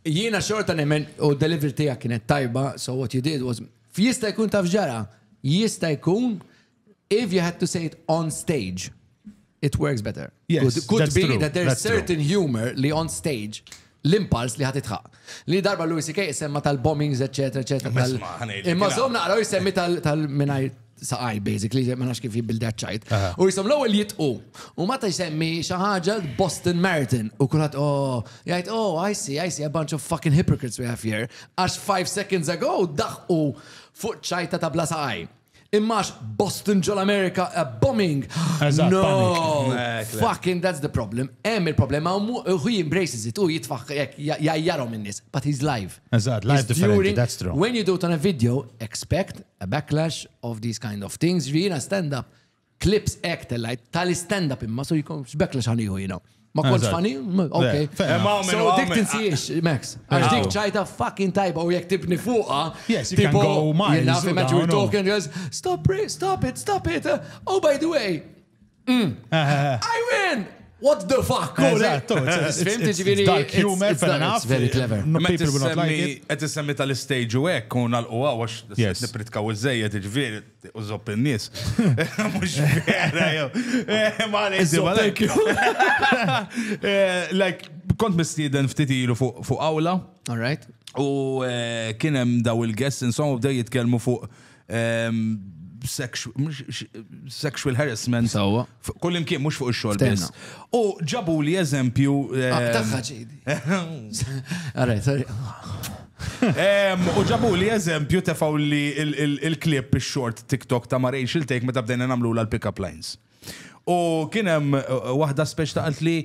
Jiena xorta nemmen u d-delivery tiegħek kienet tajba, so what you did was Jista' jkun taf x'ġara? Jista' jkun if you had to say it on stage, it works better. Yes, that's true. Could be that there's certain humor li on stage l-impulse li ħad itħaq. Li darba Louis C.K. semma tal-bombings, etc. Imma zom naqraw jisemmi tal-minajr. saqaj basically, ma nafx kif jibbilda ċajt. U jisom l-ewwel jitqu. U meta jsemmi xi ħaġa Boston Marathon u kulħadd oh, jgħid oh, I see, I see a bunch of fucking hypocrites we have here. Għax five seconds ago daħqu fuq ċajta ta' bla saqaj. Immax Boston ġol Amerika a bombing. No, fucking that's the problem. Hemm il-problema u he embraces it u jitfaħ jajjarom in-nies, but he's live. Eżatt, live differenti, that's true. When you do it on a video, expect a backlash of these kind of things, ġvi jina stand up, clips ek tellajt, tali stand up imma, so jikon backlash għaniħu jina. Ma konċ fani? Ok. So dik tinsiex, Max. Għax dik ċajta fucking tajba u jek tibni fuqa. Yes, you can go miles. Jina fi maġu talking, stop it, stop it, stop it. Oh, by the way, I win! What the fuck? Dark humor, fair enough. Very clever. Għet semmi tal-stage u ek, u nal-u għaw, għax nipritkaw iż-żejjed, ġviri, u zopp il-nis. Mux vera, jow. Like, kont mistiden ftit ilu fuq awla. All right. U kienem daw il-guests, insomma, bdew jitkelmu fuq sexual harassment. Sawa. Kull imkien mhux fuq ix-xogħol biss. U ġabu li eżempju. Tagħha ġejdi. Għaraj, sorry. U ġabu li eżempju tefaw li il-klip ix-short TikTok ta' ma Rachel Take meta bdejna nagħmlu l-pick-up lines. U kien hemm waħda speċ ta' li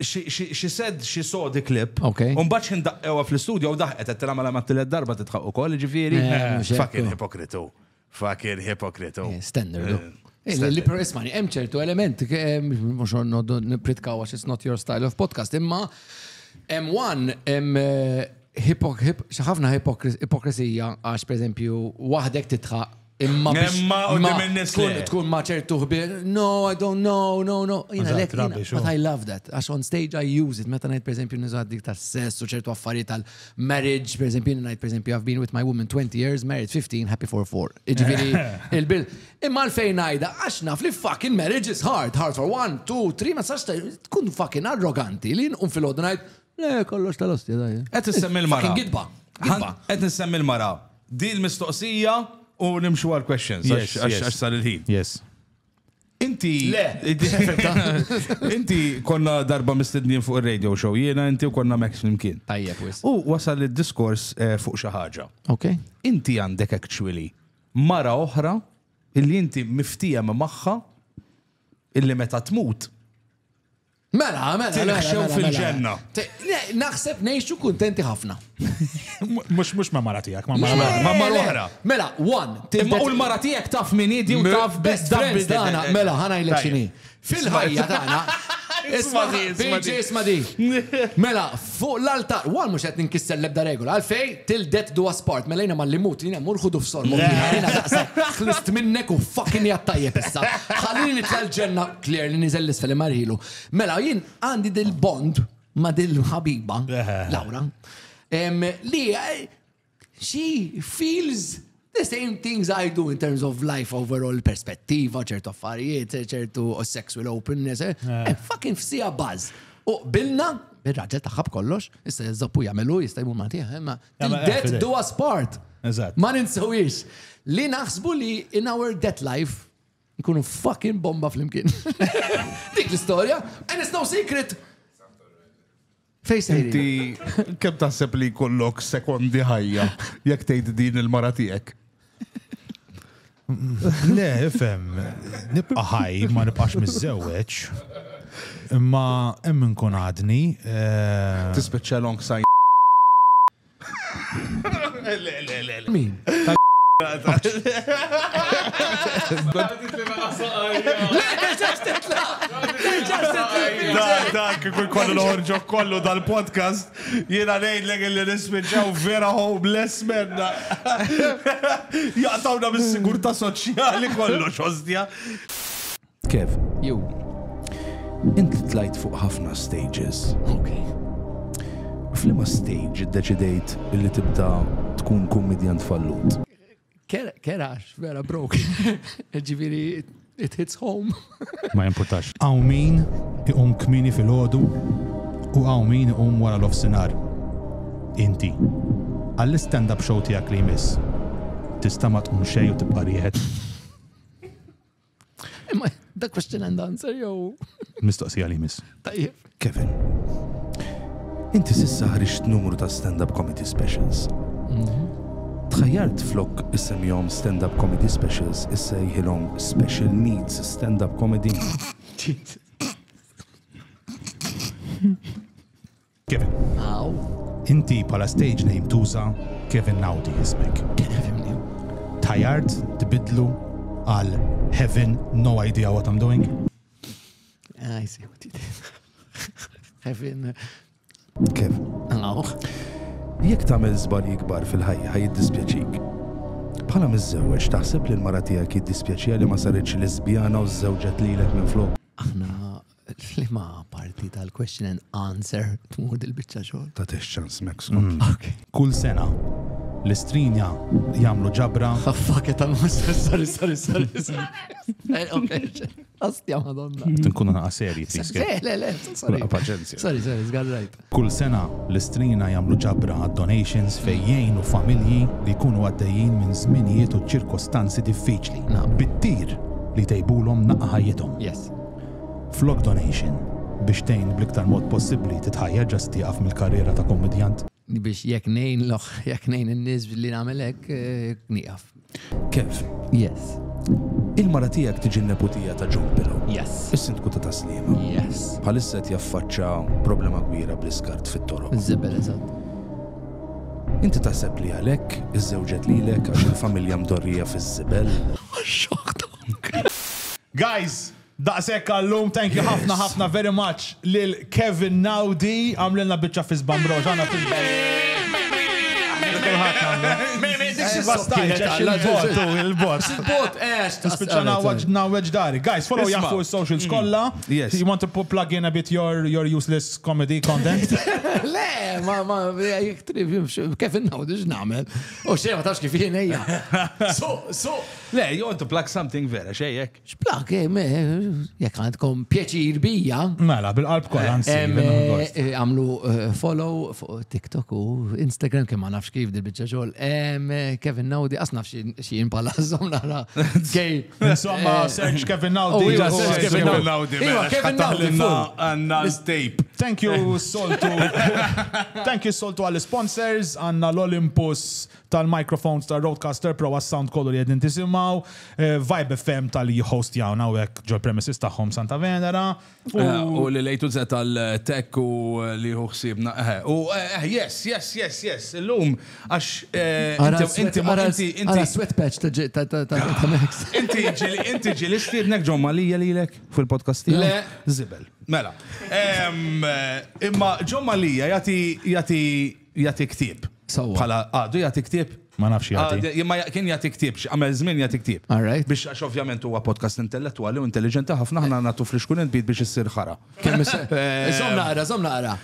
She said she saw the clip. U mbagħad xi ndaqqewha fl-istudju u daħqet qed tilha mela ma tielet darba tidħaq ukoll, jiġifieri. Fucking ipokritu. Fucking ipokritu. Standard. Li per ismani, hemm ċertu element, mhux noddu nipritkaw għax it's not your style of podcast, imma hemm one, hemm ħafna ipokrisija għax per eżempju waħdek titħaq Imma biex tkun ma ċertu ħbir, no, I don't know, no, no. Jina lek, but I love that. Għax on stage I use it. Meta najt per esempio nizad dik ta' sess u ċertu affarijiet tal marriage, per esempio najt per esempio I've been with my woman 20 years, married 15, happy for 4. Iġviri, il-bil. Imma l-fejn najda, għax naf li fucking marriage is hard, hard for one, two, three, ma sax tkun fucking arroganti li nqum fil-ħodu najt, le kollox tal-ostja dajja. Għet nissemmi l-mara. Għet nissemmi l-mara. Di l-mistoqsija u nimxu għal questions għax sal il-ħin. Yes. Inti. Le! Inti konna darba mistednin fuq il-radio show, jiena inti u konna Max flimkien. Tajja, wis. U wasal il-diskors eh, fuq xi ħaġa. Ok. Inti għandek actually mara oħra illi inti miftijem magħha illi meta tmut Mela, mela, mela. Tilħxew mela, mela. fil-ġenna. Te- le, Naħseb nejxu kuntenti ħafna. Mux mux ma' mara tijak, ma' mara mara. Ma' mara oħra. Mela, one. til- Imma u l-mara tijak taf min idi u taf best Dabbis friends. dana, mela, ħanajlek Tajjeb. xini. Fil-ħajja dana. Isma' di, isma' di. Isma' di. Mela, Fuq l-altar. One mhux qed ninkisser l-ebda regola. Għalfejn? Till death do us part. Mela jiena malli mmut, jiena mmur ħudu f'sorbok jiena. Jiena daqshekk ħlist minnek u fucking hi għat-tajjeb issa. Ħallini nitla' l-ġenna. Claire li niżel 'l isfel imarrhilu. Mela jien għandi dil-bond ma' dil-ħabiba, Laura, li she feels the same things I do in terms of life overall perspettiva, ċertu affarijiet, ċertu sexual openness, eh, eh. eh fucking fsija buzz. U bilna, il-raġel taħħab kollox, issa jizzoppu jamelu, jista jmur ma tiħ, ma death do us part. Ma ninsawiex. Li naħsbu li in our death life, nkunu fucking bomba fl-imkien. Dik l-istoria, and it's no secret. Fej sejri. Inti kemm taħseb li jkollok sekondi ħajja jekk tgħid din il-mara tiegħek? Le, fem, nibqa' ħaj ma nibqax miżżewweġ. Imma hemm inkun għadni. Eh, Tispeċċa long sign. Min? Dak kull kollu l-ħorġo kollu dal-podcast jiena ngħid l li nispiċċaw vera homeless menna. Jaqtawna mis-sigurtà soċjali kollox, ostja. Kev, jew inti tlajt fuq ħafna stages. Ok. Flima stage iddeċidejt li tibda tkun kummedjant fallut? Kerax, vera brok. Ġifieri it hits home. Ma jimpurtax. Għaw min iqum kmini fil-ħodu u għaw min iqum wara l-offsinar. Inti, għall-stand-up show tijak li jmiss, tista ma tqum xej u tibqa rieħed. Imma da question and answer jew. Mistoqsija li miss. Tajjeb. Kevin. Inti sissa ħriġt numru ta' stand-up comedy specials. Mhm. Tħajjart flok issemjom stand-up comedy specials issa jħilhom special needs stand-up comedy. Kevin. Aw. Inti bħala stage name tuża Kevin Naudi jismek. Tajart tibidlu għal Heaven, no idea what I'm doing. I see what you did. Heaven. Kevin. Aw. Jekk tagħmel żbal jikbar fil-ħajja ħaj jiddispjaċik. Bħala miżżewweġ taħseb li l-mara tiegħek jiddispjaċija li ma saritx lesbjana u żżewġet lilek minn flok. Aħna Liema parti tal-question and answer tmur dil-biċċa xogħol? Ta' tex ċans Max. Kull sena l-istrinja jagħmlu ġabra. Fakke ta' massa, sorry, sorry, sorry. Astja madonna. Tinkunu naqa serji, please. Le, le, sorry. Paċenzja. Sorry, sorry, zgarrajt. Kull sena, l-Istrina jagħmlu ġabra għad-donations fejn jgħinu familji li jkunu għaddejjin minn żminijiet u ċirkostanzi diffiċli bit-tir li jtejbulhom naqqa ħajjithom. Flok donation biex tgħin bl-iktar mod possibbli titħajjar ġa se tieqaf mill-karriera ta' kummedjant. Biex jekk ngħin jekk ngħin in-nies billi nagħmel hekk, nieqaf. Kev. Yes. Il-mara tiegħek tiġi n-neputija ta' John Pillow. Yes. Is-sindku ta' taslim. Yes. Bħalissa qed jaffaċċa problema kbira bl-iskart fit-toroq. Żibel eżatt. Inti taħseb li għalhekk iżżewġet lilek għax il-familja mdorrija fiż-żibel? Guys, Daqshekk għallum, thank you ħafna ħafna very much lil Kevin Naudi, għamlilna biċċa f'isba mbrowxana f'isba. Lil kulħadd għamlu. Il-bot. Il-bot, għex. Tispiċċa ngħawweġ dari. Guys, follow Jah fuq is-socials kollha. You want to plug in a bit your useless comedy content? Le, ma ma jekk trib Kevin Naudi x'nagħmel. U xejn ma tafx kif jien ejja. So, so. Le, you want to plug something vera xejn hekk. Xplak, eh, eh, jek għandkom pjaċir bija. Mela, bil-qalb kolla eh, Għamlu follow fuq TikTok u Instagram kemm ma nafx kif dil-bicċa xogħol. Kevin Naudi, as nafx xien pala zom nara. Kej. Insomma, search Kevin Naudi. Kevin Naudi. Mela, Kevin Naudi. Għanna tape. Thank you, Soltu. Thank you, Soltu għall-sponsors. Għanna l-Olympus tal-microphones ta' Rodecaster Pro għas-sound kollu li qegħdin tisimgħu, Vibe FM tal-li jihostjawna hawnhekk ġol-premises tagħhom Santa Venera, u. U lil A to Z tal-tech u li jieħu ħsiebna, eħe. U eħ, yes, yes, yes, yes, illum għax inti, ara s-sweat patch ta' Max. Inti ġieli stiednek John Mallia lilek fil-podcast tiegħu? Le. Żibel. Mela. Imma John Mallia jagħti Jagħti ktieb. Sewwa. Bħala għadu jagħti ktieb? Ma nafx jagħti. Għad- Imma ja- kien jagħti ktieb, xi għamel żmien jagħti ktieb. All right. Biex għax ovvjament huwa podcast intellettwali u intelliġenti ħafna ħna nagħtu flixkun il-bid biex issir ħara. Kemm is- Eh, Żomm naqra, żomm naqra.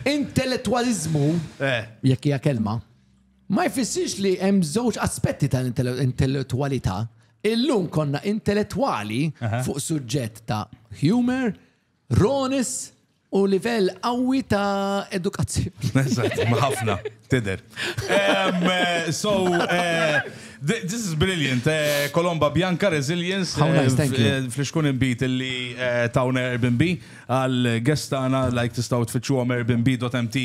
Intellettwaliżmu, Eh. jekk hija kelma, ma jfissirx li hemm żewġ aspetti tal-intellettwalità. Illum konna intellettwali fuq suġġett ta' humor, ronis, U livell qawwi ta' edukazzjoni. Eżatt, ma' ħafna, tidher. So, this is brilliant. Colomba Bianca Resilience. How nice, thank you. Flixkun inbid li tawna Airbnb għall-guests tagħna, like tistgħu tfittxuhom airbnb.mt